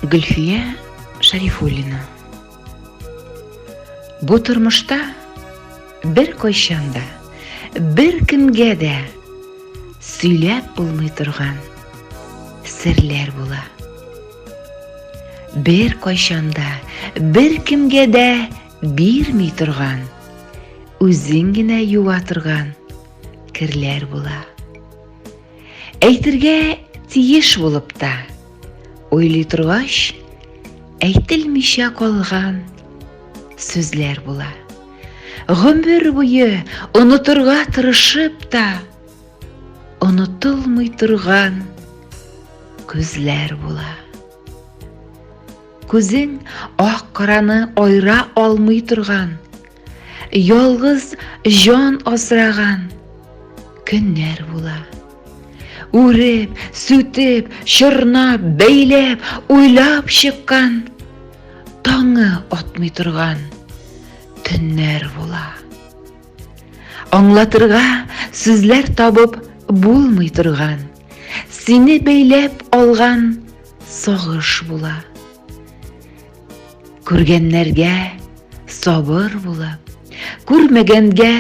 Гөлфия Шарифуллина Бу тормышта бер кайчан да, бер кемгә дә сөйләп булмый торган серләр була. Бер кайчан да, бер кемгә дә бирми торган, үзең генә юа торган керләр була. Әйтергә тиеш булып та, уйлый торгач, әйтелмичә калган сүзләр була. Гомер буе онытырга тырышып та, онытылмый торган күзләр була. Күзең ак караны айра алмый торган Ялгыз җан асраган көннәр була. Үреп, сүтеп, чорнап, бәйләп, уйлап чыккан, таңы атмый торган төннәр була. Аңлатырга сүзләр табып булмый торган, сине бәйләп алган сагыш була. Күргәннәргә сабыр булып, күрмәгәнгә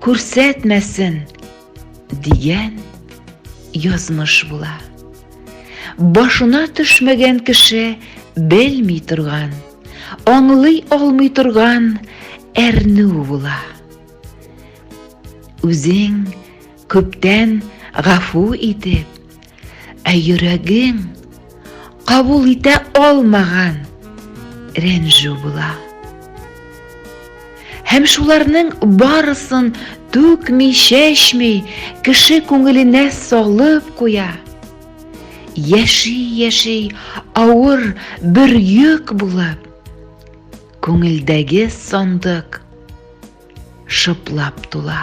күрсәтмәсен дигән язмыш була. Башына төшмәгән кеше белми торган, аңлый алмый торган әрнү була. Үзең күптән гафу итеп, Ә йөрәгең кабул итә алмаган рәнжү була. Һәм шуларның барысын түкми, чәчми, кеше күңеленә салып куя. Яши-яши авыр бер йөк булып, күңелдәге сандык шыплап тула.